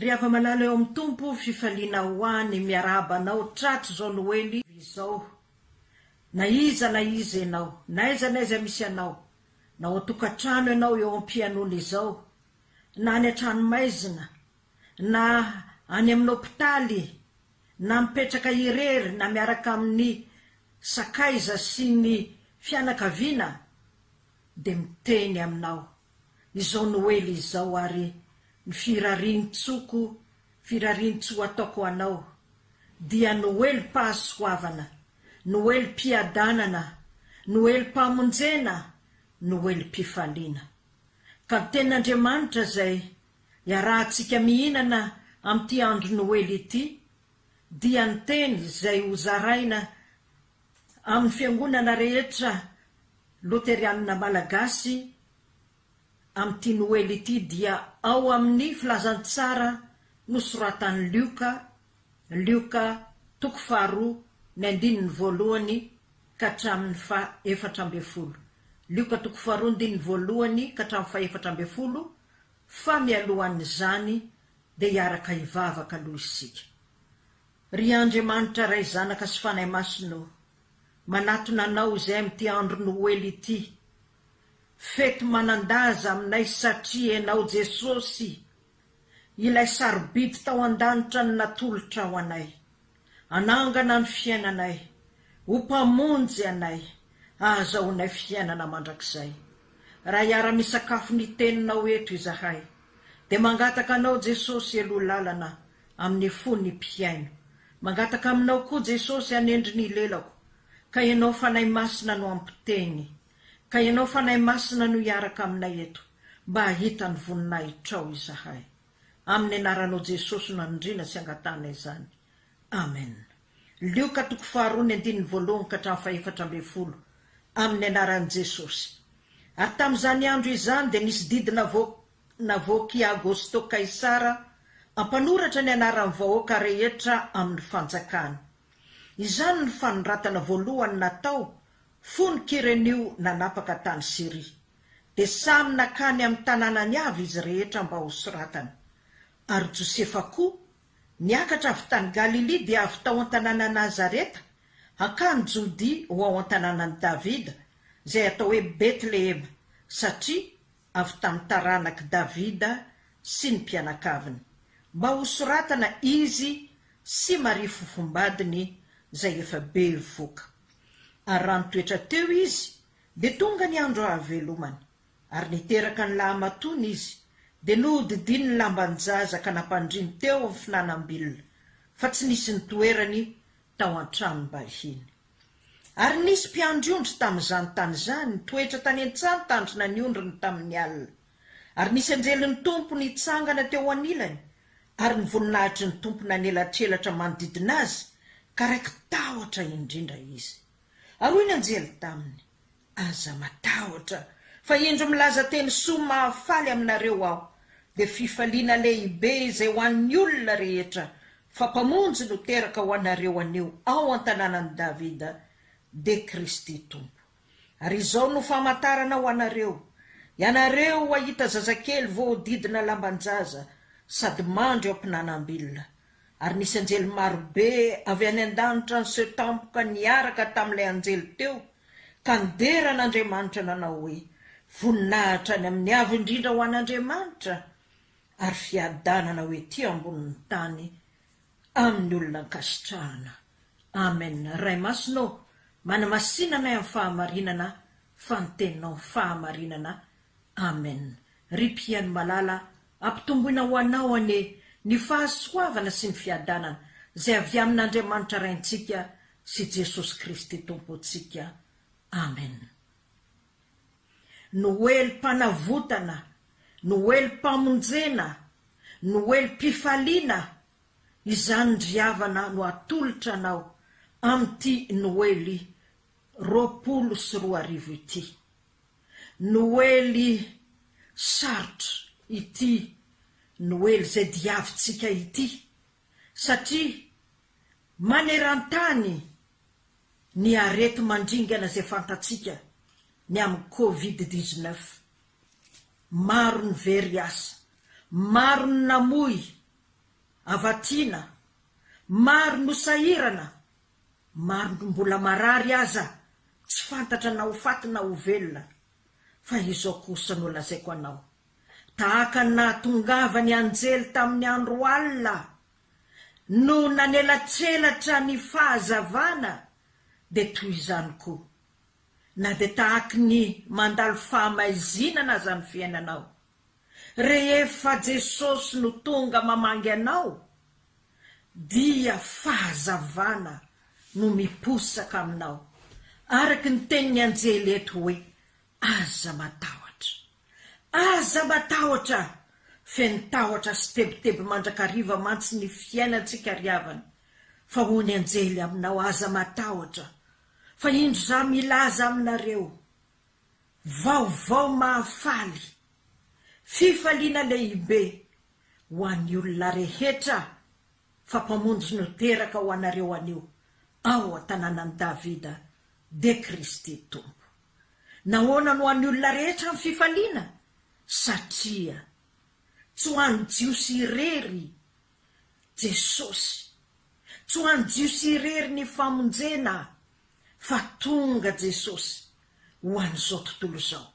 Ry hava-malala eo amin'ny Tompo fifaliana ho any miarahaba anao tratry izao noely izao na iza na iza ianao n'aiza n'aiza misy anao na ao an-tokantrano ianao eo am-pianona izao na any an-tranomaizina na any amin'ny hopitaly na mipetraka irery na miaraka amin'ny sakaiza sy ny fianakaviana dia miteny aminao izao noely izao ary ny firarian-tsoko firarian-tsoa ataoko ho anao dia noelim-pahasoavana, noelim-piadanana, noelim-pamonjena, noelim-pifaliana. Ka ny Tenin'Andriamanitra izay iarahantsika mihinana amin'ity andro noely ity dia ny Teny izay hozaraina amin'ny fiangonana rehetra loterianina malagasy amin'ity Noely ity dia ao amin'ny filazantsara nosoratan'i Lioka, Lioka toko faharoa ny andininy voalohany ka hatramin'ny faha efatra ambin'ny folo, Lioka toko faharoa andininy voalohany ka hatramin'ny faha efatra ambin'ny folo, fa mialohan'izany dia hiaraka hivavaka aloha isika. Ry Andriamanitra Ray Zanaka sy Fanahy Masina ô, manatona Anao izay amin'ity andro Noely ity, fety manan-daza aminay satria Ianao Jesosy ilay sarobidy tao an-danitra no natolotra ho anay, hanangana ny fiainanay, ho Mpamonjy anay, ahazahoanay fiainana mandrakizay. Raha hiara-misakafo ny Teninao eto izahay, dia mangataka Anao Jesosy, Heloa lalana amin'ny fon'ny mpihaino. Mangataka aminao koa Jesosy hanendry ny lelako, ka Ianao Fanahy Masina no hampiteny, ka Ianao Fanahy Masina no hiaraka aminay eto, mba hahita ny voninahitrao izahay. Amin'ny Anaranao Jesosy no anindriana sy angatahana izany. Amen. Lioka toko faharoa ny andininy voalohany ka hatramin'ny fahefatra ambin'ny folo. Amin'ny Anaran'i Jesosy. Ary tamin'izany andro izany dia nisy didy navoaka. Navoak'i Agosto Kaisara mpanoratra ny anaran'ny vahoaka rehetra amin'ny fanjakana. Izany no fanoratana voalohany natao fony Kirenio nanapaka tany Syria. Dia samy nankany amin'ny tanànany avy izy rehetra mba hosoratana. Ary Josefa koa, niakatra avy tany Galilia dia avy tao an-tanànan'i Nazareta hankany Jodia ho ao an-tanànan'i Davida, izay atao hoe Betlehema, satria avy tamin'ny taranak'i Davida sy ny mpianakaviny, mba hosoratana izy sy Maria fofombadiny izay efa be voka. Ary raha nitoetra teo izy, dia tonga ny andro hahavelomany, ary niteraka ny lahamatoany izy, dia nohodidiny ny lamban-jaza ka nampandriny teo amin'ny finanam-bilona, fa tsy nisy nitoerany tao an-tranom-bahiny. Ary nisy mpiandry ondry tamin'izany tany izany, nitoetra tany an-tsaha nitandrina ny ondriny tamin'ny alina. Ary nisy anjelin'ny Tompo nitsangana teo anilany, ary ny voninahitry ny Tompo nanelatrelatra manodidina azy, ka raiki-tahotra indrindra izy. Ary hoy ny anjely taminy, Aza matahotra fa indro milaza teny soa mahafaly aminareo aho, dia fifaliana lehibe izay ho an'ny olona rehetra, fa Mpamonjy no teraka ho anareo anio ao an-tanànan'i Davida, dia Kristy Tompo. Ary izao no famantarana ho anareo, Ianareo hahita zazakely voahodidina lamban-jaza sady mandry ao am-pinanam-bilona. Ary nisy anjely marobe avy any an-danitra niseho tampoka niaraka tamin'ilay anjely teo, Tany dera an'Andriamanitra nanao hoe, Voninahitra any amin'ny Avo Indrindra ho an'Andriamanitra, ary fiadanana ho ety ambonin'ny tany amin'ny olona ankasitrahana. Amen. Ray Masina ô, manamasina anay amin'ny fahamarinana fa ny Teninao fahamarinana. Amen. Ry Mpihaino malala, Ampitomboina ho anao anie ny fahasoavana sy ny fiadanana izay avy amin'Andriamanitra Raintsika sy Jesosy Kristy Tompontsika. Amen. Noelim-panavotana, Noelim-pamonjena, Noelim-pifaliana, izany ndry havana no atolotra anao amin'ity Noely roapolo sy roa arivo ity. Noely sarotra ity Noely izay diavintsika ity satria maneran-tany ny areti-mandringana izay fantatsika ny amin'ny covid dix-neuf. Maro ny very asa, maro ny namoy avatiana, maro no sahirana Maro no mbola marary aza tsy fantatra na ho faty na ho velona, fa izao kosa no lazaiko anao, tahaka ny nahatongava ny anjely tamin'ny andro alina no nanelatselatra ny fahazavana, dia toy izany koa, na dia tahaky ny mandalo fahamaizinana aza ny fiainanao, Rehefa Jesosy no tonga mamangy anao, dia fahazavana no miposaka aminao, araka ny tenin'ny anjely eto hoe, Aza matahotra. Aza matahotra! Feno tahotra sy tebiteby mandrakariva mantsy ny fiainantsika ry havana, fa hoy ny anjely aminao, Aza matahotra, fa indro izaho milaza aminareo. Vaovao mahafaly! Fifaliana lehibe ho an'ny olona rehetra fa Mpamonjy no teraka ho anareo anio ao an-tanànan'i Davida, dia Kristy Tompo. Nahoana no ho an'ny olona rehetra ny fifaliana? Satria tsy ho an'ny Jiosy irery Jesosy. Tsy ho an'ny Jiosy irery ny famonjena fa tonga Jesosy ho an'izao tontolo izao.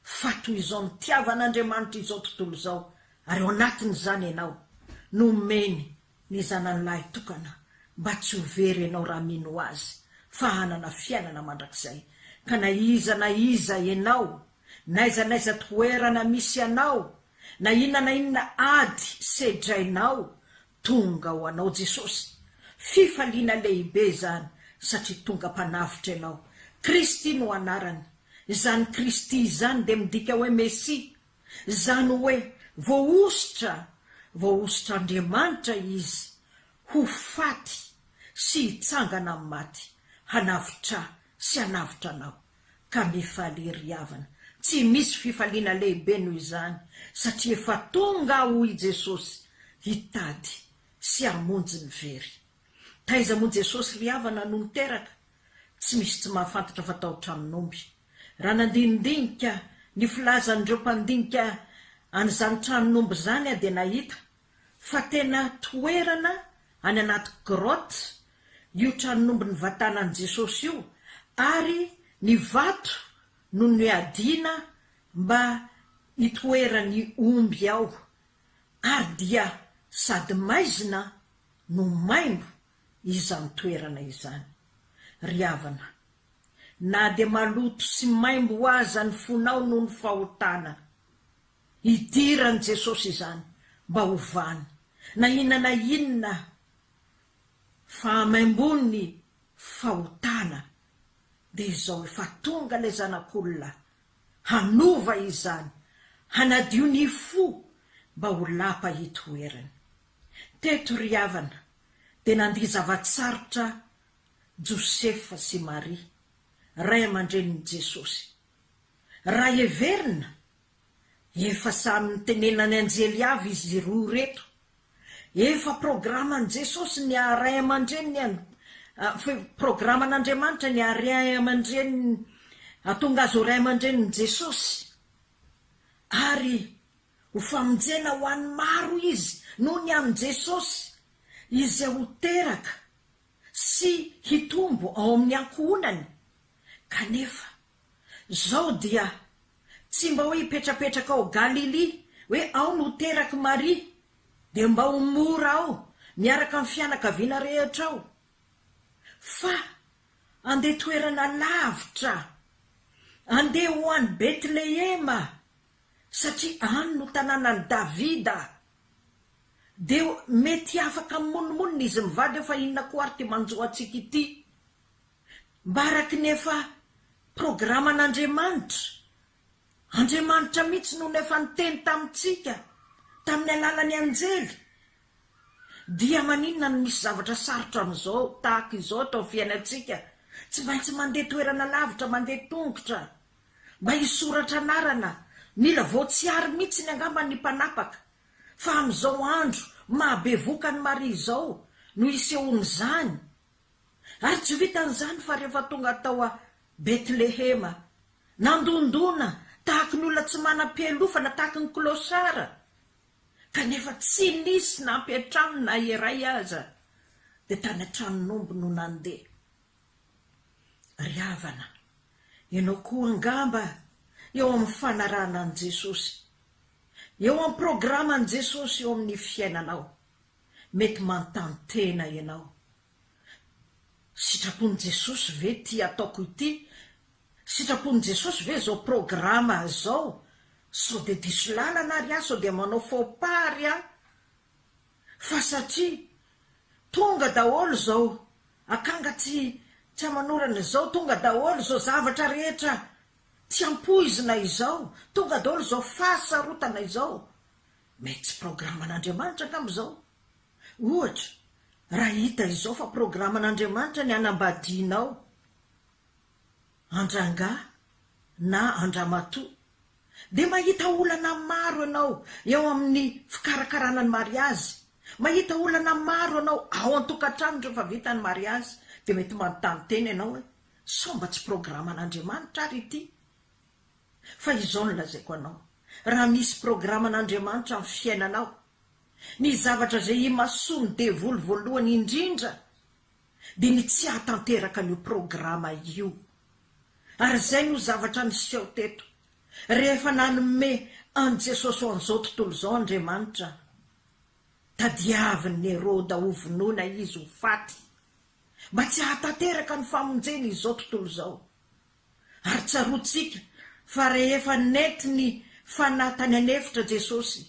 Fa toy izao nitiavan'Andriamanitra izao tontolo izao ary ao anatin'izany ianao, nomeny ny Zanany lahy tokana mba tsy ho very ianao raha mino Azy fa hanana fiainana mandrakizay. Ka na iza na iza ianao N'aiza n'aiza toerana misy anao, na inona na inona ady sedrainao, tonga ho anao Jesosy. Fifaliana lehibe izany satria tonga Mpanavotra ianao. Kristy no anarany. Izany Kristy izany dia midika hoe Mesia. Izany hoe voahosotra, voahosotr'Andriamanitra Izy ho faty sy hitsangana amin'ny maty, hanavotra sy hanavotra anao. ka mifaly ery havana. Tsy misy fifaliana lehibe noho izany, satria efa tonga aho i Jesosy hitady sy hamonjy ny very. Taiza moa Jesosy ry havana no niteraka? Tsy misy tsy mahafantatra fa tao tranon'omby. Raha nandinidinika ny filazan'ireo mpandinika an'izany tranon'omby izany aho dia nahita fa tena toerana any anaty grotte io tranon'omby nivatana an'i Jesosy io ary ny vato no niadiana mba hitoeran'ny omby ao ary dia sady maizina no maimbo izany toerana izany. Ry havana, na dia maloto sy maimbo aza ny fonao noho ny fahotana, Idiran'i Jesosy izany mba hovany na inona na inona fahamaimboan'ny fahotana, dia izao efa tonga ilay Zanak'olona hanova izany, hanadio ny fo mba ho lapa itoerany. Teto ry havana dia nandia zava-tsarotra Josefa sy Maria, ray aman-drenin'i Jesosy. Raha heverina Efa samy nitenenany anjely avy izy roa ireto. Efa programan'i Jesosy ny haha ray aman-dreniny an, efa programan'Andriamanitra ny hahary ray aman-dreniny, hahatonga azy ho ray aman-drenin'i Jesosy, ary ho famonjena ho an'ny maro izy noho ny amin'i Jesosy, izay ho teraka sy hitombo ao amin'ny ankohonany, kanefa. Zao dia tsy mba hoe hipetrapetraka ao Galilia hoe ao no terak'i Maria dia mba ho mora ao miaraka amin'ny fianakaviana rehetra ao fa andeha toerana lavitra andeha ho any Betlehema satria any no tanànan'i Davida dia mety afaka mimonomonona izy mivady eo fa inona koa ary ity manjo antsika ity. mba araky ny efa programan'Andriamanitra, Andriamanitra mihitsy no efa niteny tamintsika tamin'ny alalan'ny anjely, dia maninona no misy zavatra sarotra amin'izao tahaka izao eto amin'ny fiainantsika, tsy maintsy mandeha toerana lavitra, mandeha tongotra mba hisoratra anarana, mila voatsiary mihitsiny angamba ny mpanapaka, fa amin'izao andro mahabevoka an'i Maria izao no isehoan'izany. Ary tsy vitan'izany fa rehefa tonga tao Betlehema, nandondona tahaka ny olona tsy manam-pialofana, tahaka ny clochard, kanefa tsy nisy nampiantrano na iray aza, dia tany an-tranon'omby no nandeha. Ry havana, ianao koa angamba eo amin'ny fanarahana an'i Jesosy, eo amin'ny programan'i Jesosy eo amin'ny fiainanao. mety manontany tena ianao, Sitrapon'i Jesosy ve ity ataoko ity? Sitrapon'i Jesosy ve izao programa izao? Sao dia diso lalana ary aho? Sao dia manao faux pas ary aho? Fa satria tonga daholo izao akanga tsy tsy aman'orana izao, tonga daholo izao zavatra rehetra tsy ampoizina izao, tonga daholo izao fahasarotana izao, Mais tsy programan'Andriamanitra angamba izao? Ohatra, raha hita izao fa programan'Andriamanitra ny hanambadianao an-drangahy na an-dramatoa, dia mahita olana maro ianao eo amin'ny fikarakarana ny mariazy, mahita olana maro ianao ao an-tokantrano rehefa vita ny mariazy, dia mety manontany tena ianao hoe, sao mba tsy programan'Andriamanitra ary ity? Fa izao no lazaiko anao, raha misy programan'Andriamanitra amin'ny fiainanao, ny zavatra izay imasoan'ny devoly voalohany indrindra dia ny tsy hahatanteraka an'io programa io. Ary izay no zavatra niseho teto, rehefa nanome an'i Jesosy ho an'izao tontolo izao Andriamanitra, tadiavin'i Heroda hovonoina Izy ho faty, mba tsy hahatanteraka ny famonjena izao tontolo izao. Ary tsaroantsika fa rehefa nety ny fanahy tany an'efitra Jesosy,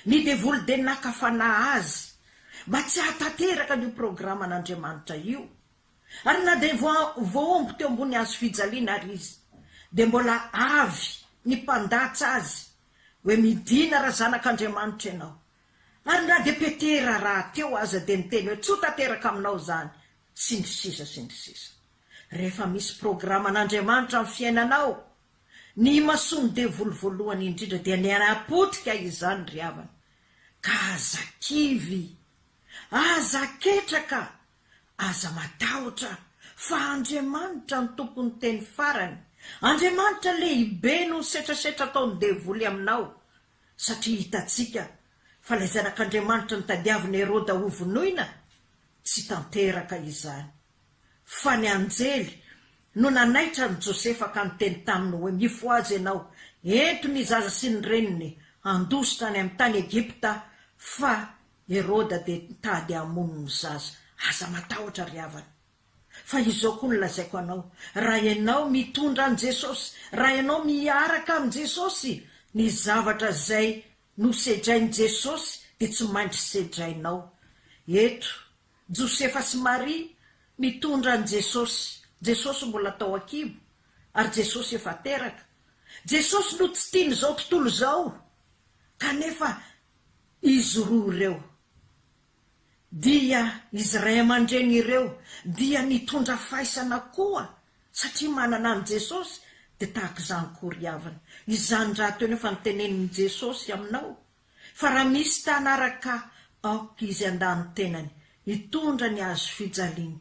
ny devoly dia naka fanahy azy mba tsy hahatanteraka an'io programan'Andriamanitra io. Ary na dia vao voaomby teo ambony hazo fijaliana ary izy, dia mbola avy ny mpandatsa azy hoe midina raha zanak'Andriamanitra ianao. Ary na dia Petera rahateo aza dia niteny hoe tsoa tanteraka aminao izany, sy ny sisa sy ny sisa. Rehefa misy programan'Andriamanitra amin'ny fiainanao, ny imasoan'ny devoly voalohany indrindra dia ny hanapotika izany ry havana. Ka aza kivy, aza ketraka, aza matahotra, fa Andriamanitra no tompon'ny teny farany, Andriamanitra lehibe noho ny setrasetra ataon'ny devoly aminao, satria hitantsika fa ilay zanak'Andriamanitra notadiavin'i Heroda hovonoina, tsy tanteraka izany. Fa ny anjely no nanaitra an'i Josefa ka niteny taminy hoe, Mifohaza ianao, ento ny zaza sy ny reniny, handositra any amin'ny tany Egypta, fa Heroda dia mitady hamono ny zaza. Aza matahotra, ry havana. Fa izao koa no lazaiko anao, raha ianao mitondra an'i Jesosy, raha ianao miaraka amin'i Jesosy, ny zavatra izay nosedrain'i Jesosy dia tsy maintsy sedrainao. Eto Josefa sy Maria nitondra an'i Jesosy. Jesosy mbola tao an-kibo, ary Jesosy efa teraka. Jesosy no tsy tian'izao tontolo izao, kanefa izy roa ireo, dia izy ray aman-dreny ireo, dia nitondra faisana koa, satria manana an'i Jesosy, dia tahaka izany koa ry havana. Izany rahateo nefa ny tenenin'i Jesosy aminao, fa raha misy mpianaraka aoka izy handà ny tenany hitondra ny hazo fijaliany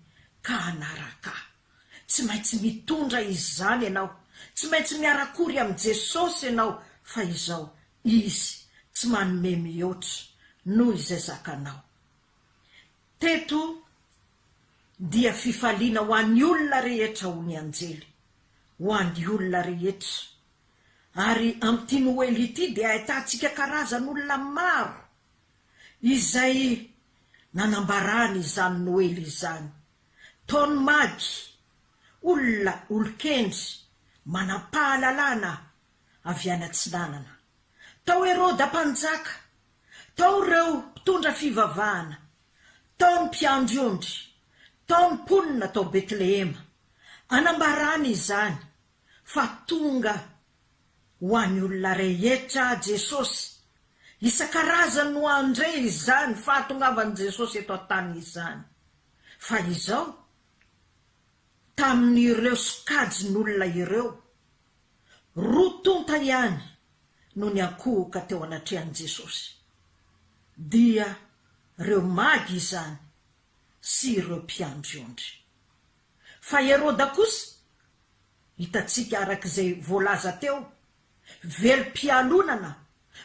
ka hanaraka ahy. Tsy maintsy mitondra izy izany ianao, tsy maintsy miara-kory amin'i Jesosy ianao fa izao, Izy tsy manome mihoatra noho izay zakanao. Teto dia fifaliana ho an'ny olona rehetra hoy ny anjely, ho an'ny olona rehetra Ary amin'ity Noely ity dia ahitantsika karazan'olona maro izay nanambarany izany Noely izany. Taon'ny magy, olona olon-kendry manam-pahalalana avy any atsinanana. Tao Heroda Mpanjaka, tao ireo mpitondra fivavahana, tao ny mpiandry ondry, tao ny mponina tao Betlehema. Anambarany izany fa tonga ho an'ny olona rehetra Jesosy. Isan-karazany no handre izany fahatongavan'i Jesosy eto an-tany izany. Fa izao, tamin'ireo sokajin'olona ireo, roa tonta ihany no niankohoka teo anatrehan'i Jesosy, dia ireo magy izany sy ireo mpiandry ondry. Fa Heroda kosa, hitantsika araka izay voalaza teo, velom-pialonana,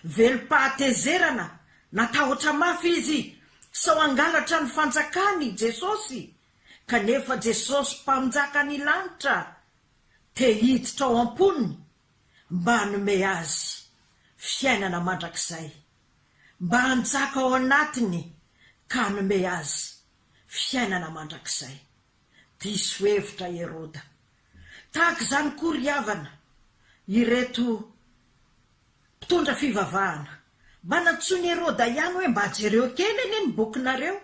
velom-pahatezerana, natahotra mafy izy sao hangalatra ny fanjakany i Jesosy, kanefa Jesosy Mpanjaka ny lanitra te hiditra ao am-pony mba hanome azy fiainana mandrakizay, mba hanjaka ao anatiny ka hanome azy fiainana mandrakizay. Diso hevitra Heroda. Tahaka izany koa ry havana, ireto mpitondra fivavahana. Mba nantsoin'i Heroda ihany hoe mba jereo kely anie ny bokinareo.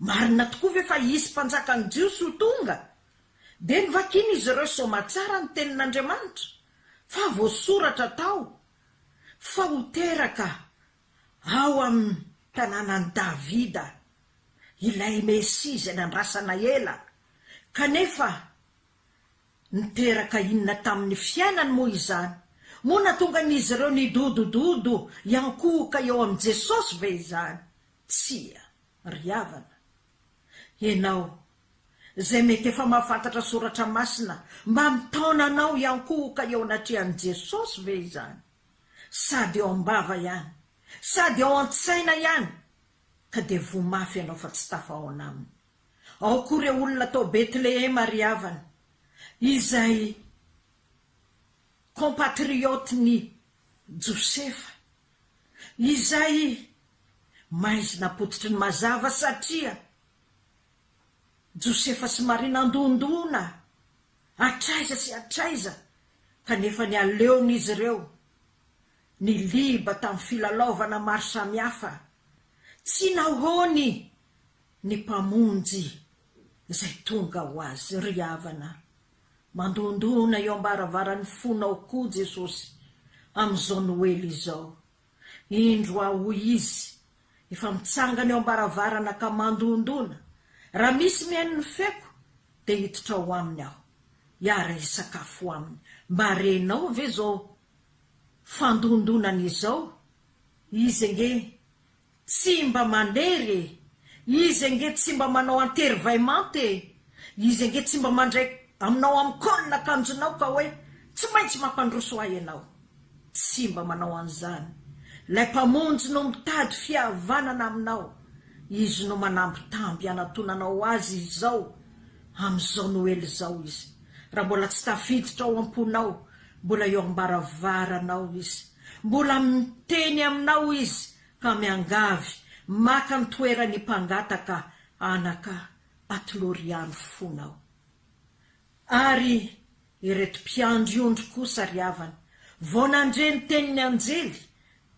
Marina tokoa ve fa hisy mpanjakan'ny Jiosy ho tonga? Dia novakin'izy ireo soamatsara ny Tenin'Andriamanitra, fa voasoratra tao fa ho teraka ao amin'ny tanànan'i Davida, ilay Mesia izay nandrasana ela. Kanefa, niteraka inona tamin'ny fiainany moa izany? Moa nahatonga an'izy ireo nidodododo hiankohoka eo amin'i Jesosy ve izany? Tsia, ry havana. Ianao, izay mety efa mahafantatra soratra masina, mba mitaona anao hiankohoka eo anatrehan'i Jesosy ve izany? sady eo am-bava ihany, sady ao an-tsaina ihany, ka dia voa mafy ianao fa tsy tafahaona aminy. Ao koa ireo olona tao Betlehema ry havana, izay compatriotes-n'i Josefa, izay maizina apototry ny mazava satria Josefa sy Maria nandondona, Hatraiza sy hatraiza kanefa ny aleon'izy ireo ny liba tamin'ny filalaovana maro samihafa, tsy nahoany ny Mpamonjy izay tonga ho azy. Ry havana, mandondona eo am-baravaran'ny fonao koa Jesosy amin'izao Noely izao. Indro aho, hoy izy, efa mitsangana eo am-baravarana ka mandondona. Raha misy mihaino ny feoko, dia hiditra ao aminy aho, hiara-hisakafo aminy. Mba renao ve izao fandondonany izao? Izy ange Tsy mba manery e! Izy ange tsy mba manao antery vay manta e! Izy ange tsy mba mandray aminao amin'ny col akanjonao ka hoe tsy maintsy mampandroso ahy ianao! Tsy mba manao an'izany! Ilay Mpamonjy no mitady fihavanana aminao! Izy no manambitamby hanatonanao Azy izao amin'izao Noely izao Izy! Raha mbola tsy tafiditra ao am-ponao, mbola eo am-baravaranao Izy! Mbola miteny aminao Izy ka miangavy maka ny toeran'ny mpangataka anaka ato Loriano fona aho. Ary ireto mpiandry ondry kosa ry havana, vao nandre ny tenin'ny anjely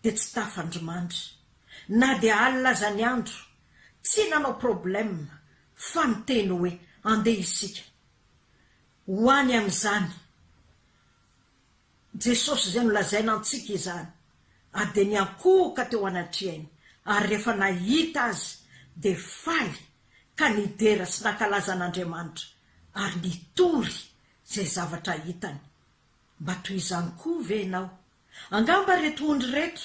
dia tsy tafandrimandry, na dia alina aza ny andro, tsy nanao problème fa niteny hoe, andeha isika ho any amin'izany, Jesosy izay nolazaina antsika izany, ary dia niankohoka teo anatrehainy, ary rehefa nahita Azy, dia faly, ka nidera sy nankalaza an'Andriamanitra, ary nitory izay zavatra hitany. Mba toy izany koa ve ianao? Angamba ireto ondry ireto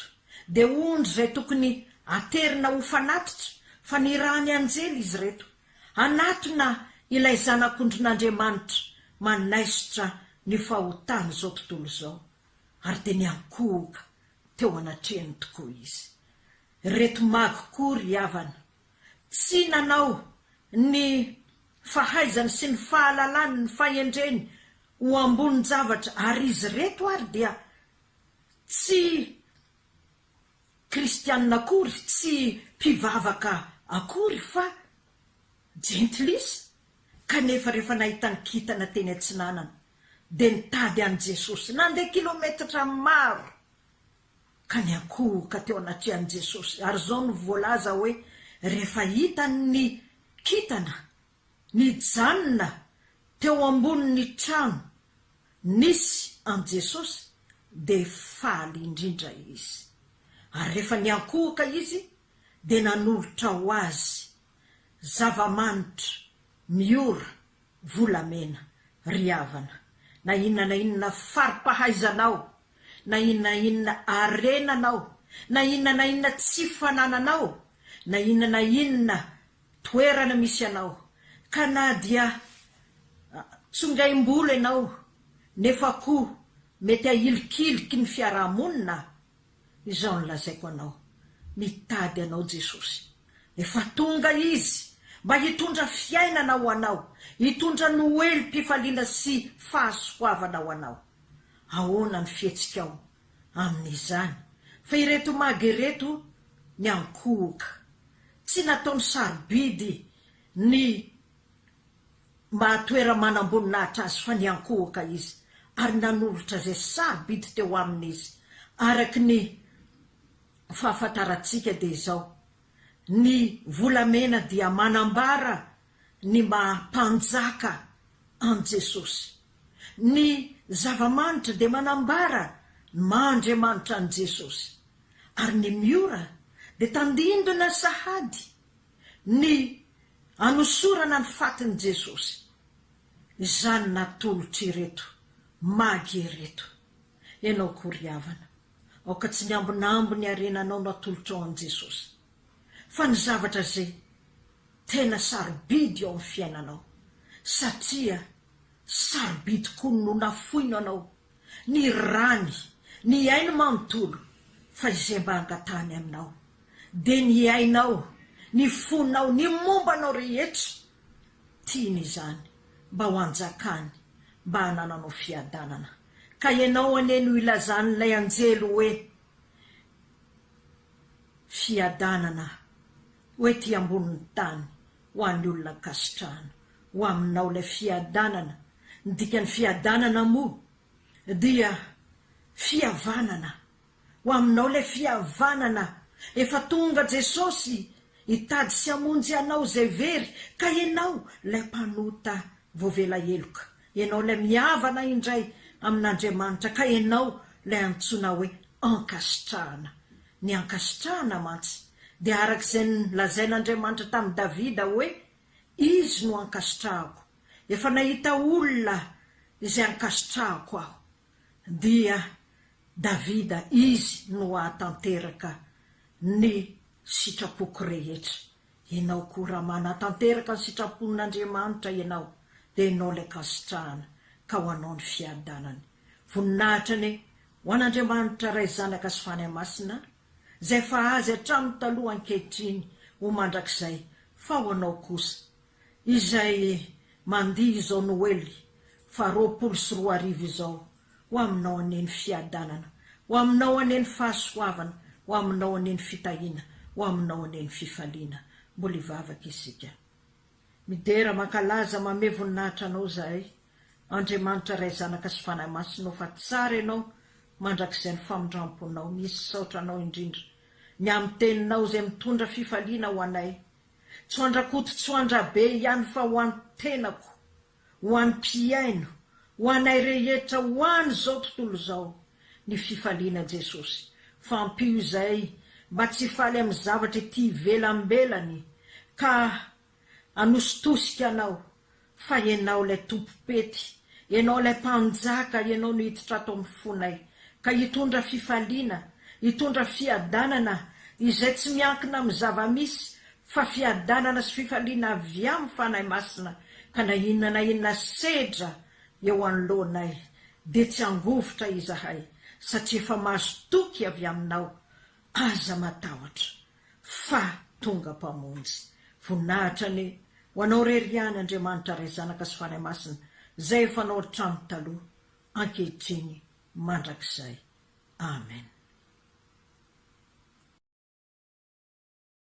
dia ondry izay tokony haterina ho fanatitra, fa nirahan'ny anjely izy ireto, Hanatona ilay Zanak'ondrin'Andriamanitra manaisotra ny fahotan'izao tontolo izao, ary dia niankohoka teo anatrehany tokoa izy. Ireto magy koa, ry havana, tsy nanao ny fahaizany sy ny fahalalany ny fahendreny ho ambonin-javatra, ary izy ireto ary dia tsy. Kristianina akory, tsy mpivavaka akory fa jentilisa, kanefa rehefa nahita ny kintana teny atsinanana dia nitady an'i Jesosy, nandeha kilometatra maro ka niankohoka teo anatrehan'i Jesosy, ary izao no voalaza hoe rehefa hitany ny kintana Nijanona teo ambonin'ny trano nisy an'i Jesosy, dia faly indrindra izy. Ary rehefa niankohoka izy, dia nanolotra ho azy zava-manitra miora volamena. Ry havana, na inona na inona fari-pahaizanao, na inona na inona harenanao, na inona na inona tsy fanananao, na inona na inona toerana misy anao ka na dia tsongaim-bolo ianao nefa koa mety ahilikiliky ny fiaraha-monina izao no lazaiko anao mitady anao Jesosy efa tonga izy mba hitondra fiainana ho anao hitondra noelim-pifaliana sy fahasoavana ho anao ahoana ny fihetsikao amin'izany fa ireto maga ireto miankohoka. Tsy nataony sarobidy ny maha toera-manamboninahitra azy fa niankohoka izy ary nanolotra izay sarobidy teo aminy izy. Araka ny fahafantarantsika dia izao, ny volamena dia manambara ny maha Mpanjaka an'i Jesosy. Ny zava-manitra dia manambara ny maha Andriamanitra an'i Jesosy, ary ny Miora dia tandindona sahady ny anosorana ny fatin'i Jesosy. Izany natolotr' ireto Magy ireto. Ianao koa ry havana, aoka tsy ny ambinambiny harenanao no atolotrao an'i Jesosy. fa ny zavatra izay tena sarobidy eo amin'ny fiainanao satria sarobidy koa no nafoino anao ny rany, ny ainy manontolo fa izay mba angatahany aminao dia ny ainao, ny fonao, ny momba anao rehetra, tiany izany mba ho anjakany mba hanananao fiadanana ka ianao anie no ilazan'ilay anjely hoe Fiadanana ho ety ambonin'ny tany ho an'ny olona ankasitrahana. Ho aminao ilay fiadanana. Ny dikan'ny fiadanana moa dia fihavanana. Ho aminao ilay fihavanana. Efa tonga Jesosy hitady sy hamonjy anao izay very ka ianao ilay mpanota voavela heloka. Ianao ilay mihavana indray amin'Andriamanitra ka ianao ilay antsoina hoe ankasitrahana. Ny ankasitrahana mantsy dia araka izay nolazain'Andriamanitra tamin'i Davida hoe, Izy no ankasitrahako. Efa nahita olona izay ankasitrahako aho. Dia Davida, izy no hahatanteraka ny sitrapoko rehetra. Enao koa raha manatanteraka ny sitrapon' Andriamanitra enao dia enao ilay kasitrahana ka ho anao ny fiadanany. Voninahitra anie ho an' Andriamanitra Ray Zanaka sy Fanahy Masina izay fa Azy hatramin'ny taloha ankehitriny ho mandrakizay fa ho anao kosa izay mandihy izao Noely faha roapolo sy roa arivo izao Ho aminao anie ny fiadanana, ho aminao anie ny fahasoavana, ho aminao anie ny fitahiana, ho aminao anie ny fifaliana. Mbola hivavaka isika. Midera, mankalaza, mamehy voninahitra Anao izahay, Andriamanitra Ray, Zanaka sy Fanahy Masina ô, fa tsara Ianao mandrakizay ny famindram-ponao. Misaotra Anao indrindra ny amin'ny Teninao izay mitondra fifaliana ho anay, tsy ho an-dRakoto, tsy ho an-dRabe ihany fa ho an-tenako. ho an'ny mpihaino, ho anay rehetra ho an' izao tontolo izao, ny fifaliana Jesosy, fa ampio izay mba tsy faly amin'ny zavatra ety ivelambelany ka hanositosika anao fa Ianao ilay Tompom-pety, Ianao ilay Mpanjaka, Ianao no hiditra ato amin'ny fonay ka hitondra fifaliana, hitondra fiadanana izay tsy miankina amin'ny zava-misy fa fiadanana sy fifaliana avy amin'ny Fanahy Masina, ka na inona na inona sedra eo anoloanay, dia tsy hangovitra izahay, satria efa mahazo toky avy Aminao, aza matahotra, fa tonga Mpamonjy. Voninahitra anie ho Anao irery ihany, Andriamanitra Ray, Zanaka sy Fanahy Masina, Izay efa Anao hatramin'ny taloha, ankehitriny, mandrakizay. Amen.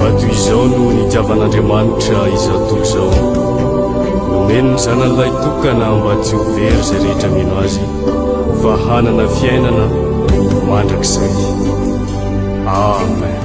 Vato izao no nitiavan'Andriamanitra izao tontolo izao. Nomeny ny Zanany Lahy Tokana mba tsy ho very izay rehetra mino Azy, fa hanana fiainana mandrakizay. Amen.